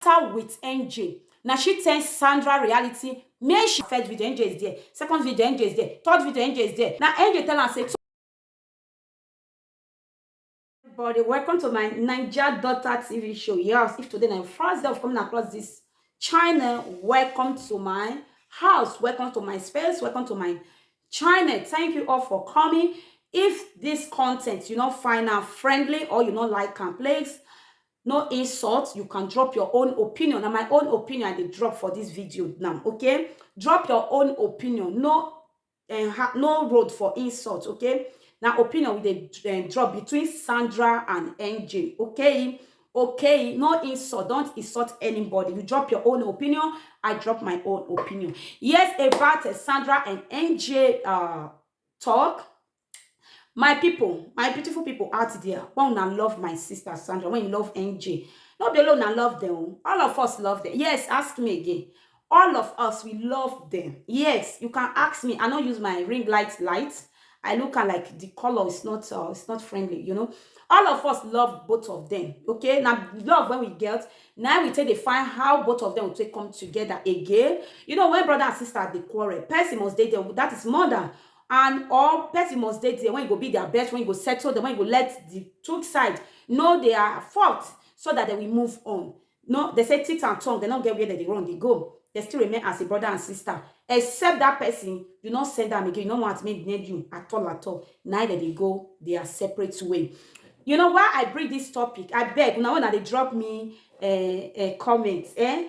After with NJ, na she tell Sandra reality make she first video NJ is there, second video NJ is there, third video NJ is there. Na NJ tell am say so everybody welcome to my naija daughter tv show yes if today na your first day of coming across this channel welcome to my house welcome to my space welcome to my channel thank you all for coming if this content you not find am friendly or you not like am please No insult, you can drop your own opinion. Na my own opinion I dey drop for this video now, okay? Drop your own opinion. No eh, ha- no road for insult, okay? Na opinion we dey eh, drop between Sandra and NJ, okay? Okay, no insult. Don't insult anybody. You drop your own opinion. I drop my own opinion. Yes, about eh, Sandra and NJ uh, talk. My pipu, my beautiful pipu out there, wen una love my sister Sandra, wen you love NJ, no be only una love dem o, all of us love dem. Yes, ask me again. All of us, we love dem. Yes, you can ask me, I no use my ring light light, I look am like the color is not uh, is not friendly, you know. All of us love both of dem, okay? Na love wey we get, na im we take dey find how both of dem go take come together again. You know, when brother and sister dey quarrel, person must dey there, that is mother and or person must dey there when e go be their best, when e go settle them, when e go let the two side know their fault so that they will move on. No, they say teeth and tongue, they no get where they dey run dey go. They still remain as a brother and sister. Except that person, you no send am again, you no want make near you at all at all. Na im they dey go their separate way. You know why I bring this topic? I beg una when una dey drop me uh, uh, comment, eh?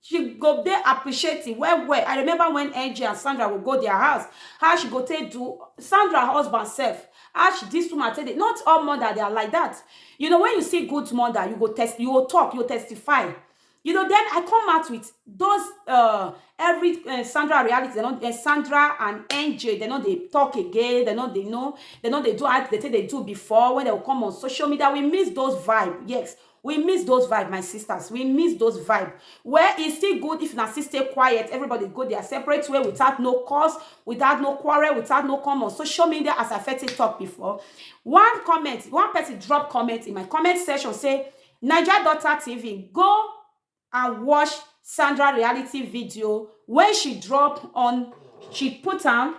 She go dey appreciative well well. I remember when Angie and Sandra go go their house, how she go take do Sandra husband sef, how she this woman take dey, not all mother they are like that. You know when you see good mother, you go test, you go talk, you go testify. You know then I come out with those uh, every uh, Sandra reality, they not, uh, Sandra and Angie, they not they talk again, they not they know, they not they do as they take they do before when they will come on social media. We miss those vibe, yes. We miss those vibe my sisters we miss those vibe well e still good if na still stay quiet everybody go their separate way without no cause without no quarrel without no come on social media as i fit take talk before one comment one person drop comment in my comment section say naija daughter tv go and watch Sandra reality video when she drop on she put am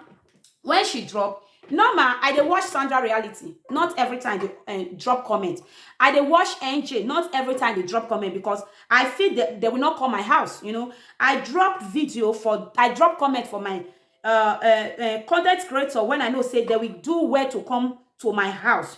when she drop normal i dey watch sandra reality not every time dey eh, drop comment i dey watch nj not every time dey drop comment because i feel that they will not come my house you know i drop video for i drop comment for my uh, uh, uh, content creator when i know say they will do well to come to my house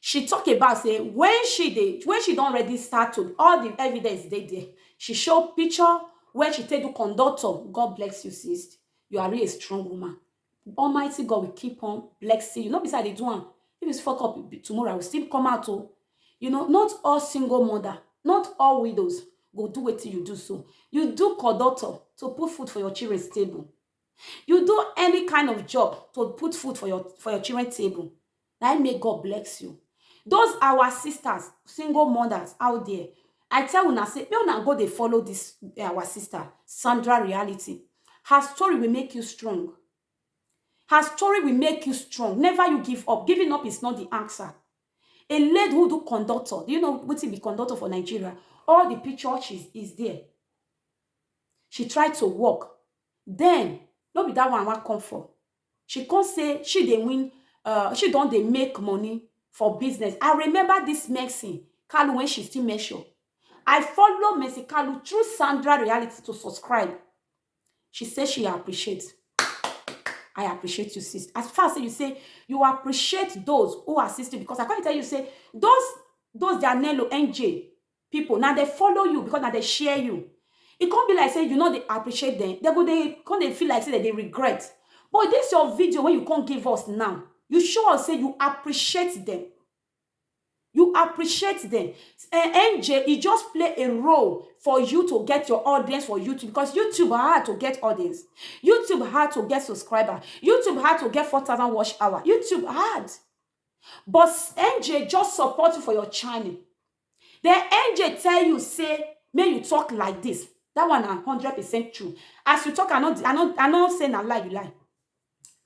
she tok about say wen she dey wen she don already start to all di evidence dey there she show picture wey she take do conductor god bless you sis you are really a strong woman almighty god will keep on blessing you no be say i dey do am if it's fuck up tomorrow i will still come out o you know not all single mother not all widows go do wetin you do so you do conductor to put food for your children's table You do any kind of job to put food for your for your children table. Na im make God bless you. Those our sisters, single mothers out there, I tell una say make una go dey follow this our sister Sandra reality. Her story will make you strong. Her story will make you strong. Never you give up. Giving up is not the answer. A lady who do conductor, do you know wetin be conductor for Nigeria? All the picture she's is there. She tried to work, Den, no be dat one wan come for, she come say she dey win um she don dey make money for business. I remember dis Mercy Kalu wen she still Mercial. I follow Mercy Kalu through Sandra Reality to subscribe. She say she appreciate. I appreciate you sis. As far say you say you appreciate those who assist you because I come dey tell you say those those their Nello NJ people na dem follow you because na dem share you e come be like say you no dey appreciate dem dem go dey come dey feel like say dem dey regret but this your video wey you come give us now you show us say you appreciate dem you appreciate dem eh, NJ e just play a role for you to get your audience for YouTube because YouTube hard to get audience YouTube hard to get subscriber YouTube hard to get 4000 watch hour YouTube hard but NJ just support you for your channel The angel tell you say make you talk like this. That one na hundred percent true. As you talk, I no, I no, I no say na lie you lie.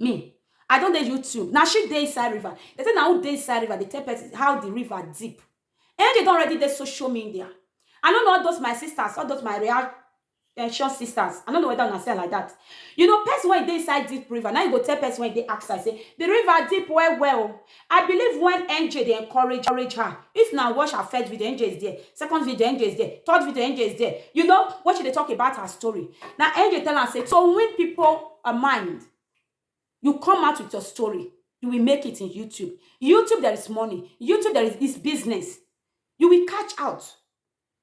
Me, I don dey YouTube. Na she dey inside river. They say na who dey inside river. They tell person how the river deep. Angel don already dey social media. I no know all those my sisters, all those my real Precious sisters, I no know whether una see am like that. You know, person when e dey inside deep river, now you go tell person when e dey outside, say, the river deep well well. o." I believe when NJ dey encourage, encourage her, if na watch her first video, NJ is there, second video, NJ is there, third video, NJ is there. You know, when she dey talk about her story, na NJ tell am say, to win people uh, mind, you come out with your story, you will make it in YouTube. YouTube, there is money. YouTube, there is, is business. You will catch out.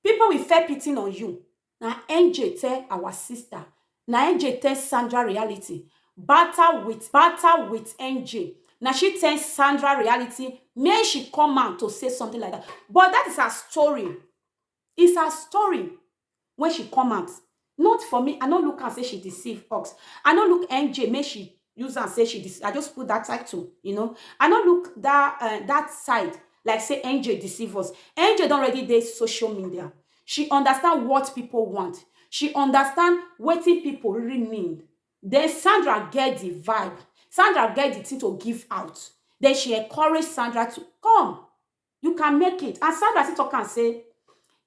People we fair pitin on you na NJ tell our sister na NJ tell Sandra reality bata with bata with NJ na she tell Sandra reality make she come out to say something like that but that is her story is her story when she come out Not for me, I no look am say she deceive ux. I no look NJ make she use am say she dece I just put that title you know. I no look that uh, that side like say NJ deceive us. NJ don already dey social media. She understand what people want. She understand wetin people really need. Then Sandra get the vibe. Sandra get the thing to give out. Then she encourage Sandra to come. you can make it and sandra still talk am say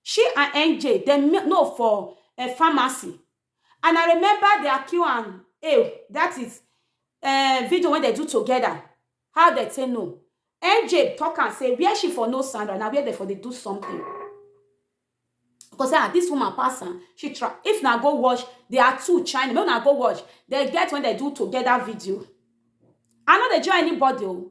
she and nj dem me- know for uh, pharmacy and i remember their q and a that is uh, video wey dem do together how dem take know nj talk am say where she for know sandra na where dem for dey do something because ah this woman pass am she try if na go watch there are two china make una go watch dem get when dem do together video i no dey join anybody o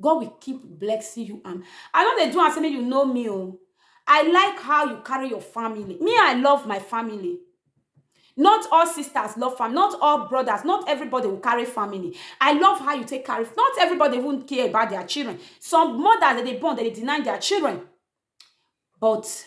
God will keep blessing you and I no dey do am say make you know me o. I like how you carry your family. Me, I love my family. Not all sisters love family, not all brothers, not everybody will carry family. I love how you take carry not everybody even care about their children. Some mothers that they born, they dey deny their children. But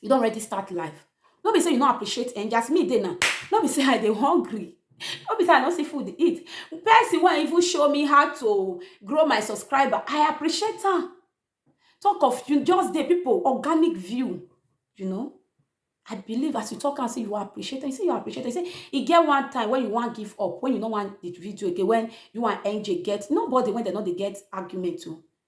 you don already start life no be say you no appreciate angel as me dey now no be say i dey hungry no be say i no see food eat person wey even show me how to grow my subscriber i appreciate am talk of you just dey people organic view you know i believe as you talk am say you appreciate am you say you appreciate am you say e get one time when you wan give up when you no wan the video again when you and angel get nobody when dem no dey get argument o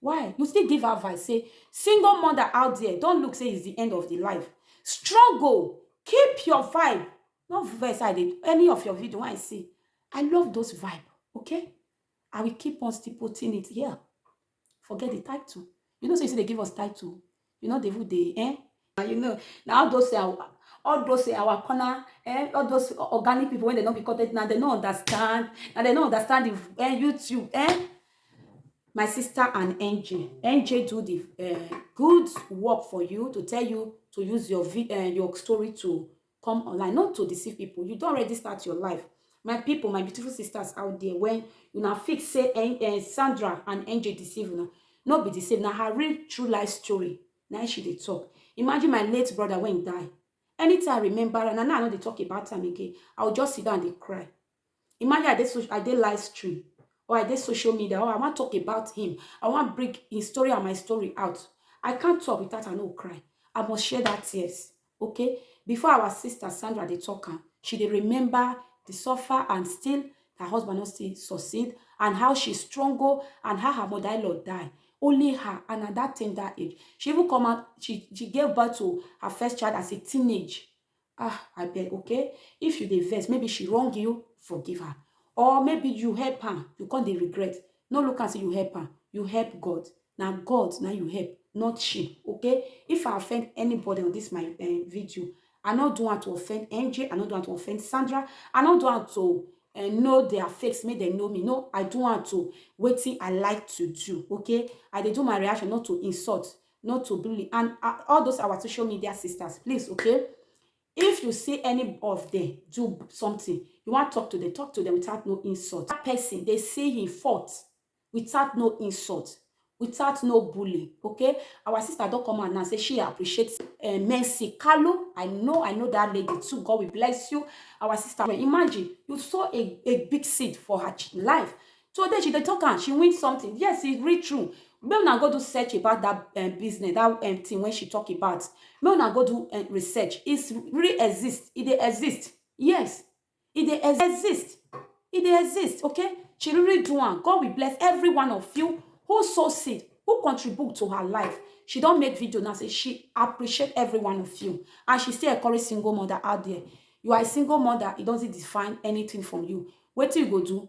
Why you still give advice say single mother out there don't look say is the end of the life struggle keep your vibe no vex I dey any of your video when I see I love those vibe okay I will keep on still putting it here forget the title you know say you still dey give us title you no dey even dey eh and you know na all those our all those our corner eh all those organic people wey dem no be content na dem no understand na dem no understand the eh, youtube eh my sister and NJ. NJ do the uh, good work for you to tell you to use your uh, your story to come online not to deceive people you don't already start your life my people my beautiful sisters out there when you now fix say eh, eh, sandra and angel deceive you know, not be the same now her real true life story now she dey talk imagine my late brother when he die anytime i remember and now i know they talk about time again i will just sit down and cry Imagine I dey social, I dey live stream or I dey social media or I wan talk about him. I wan bring him story and my story out. I can't talk without I no cry. I must share that tears. Okay? Before our sister Sandra dey talk am, she dey remember the suffer and still her husband no still succeed and how she struggle and how her mother-in-law die. Only her and at that tender age. She even come out, she, she gave birth to her first child as a teenage. ah abeg okay if you dey vex maybe she wrong you forgive her or maybe you help am you come dey regret no look am say you help am you help god na god na you help not she okay if i offend anybody on this my um, video i no do am to offend angel i no do am to offend sandra i no do am to uh, know their face make dem know me no i do am to wetin i like to do okay i dey do my reaction not to insult not to bully and uh, all those our social media sisters please okay if you see any of them do something you want to talk to them talk to them without no insult that person they say he fought without no insult without no bully okay our sister don't come out now say she appreciates uh, mercy kalu i know i know that lady too god will bless you our sister imagine you saw a, a big seed for her life So then she dey talk am, she win something. Yes, e real true. Make una go do search about that um, business, that um, thing when she talk about. Make una go do um, research. It's really exist. It dey exist. Yes, it dey ex- exist. It dey exist. Okay, she really do am. God will bless every one of you who sow seed, who contribute to her life. She don make video now say she appreciate every one of you, and she still encourage single mother out there. You are a single mother. It doesn't define anything from you. Wetin you go do?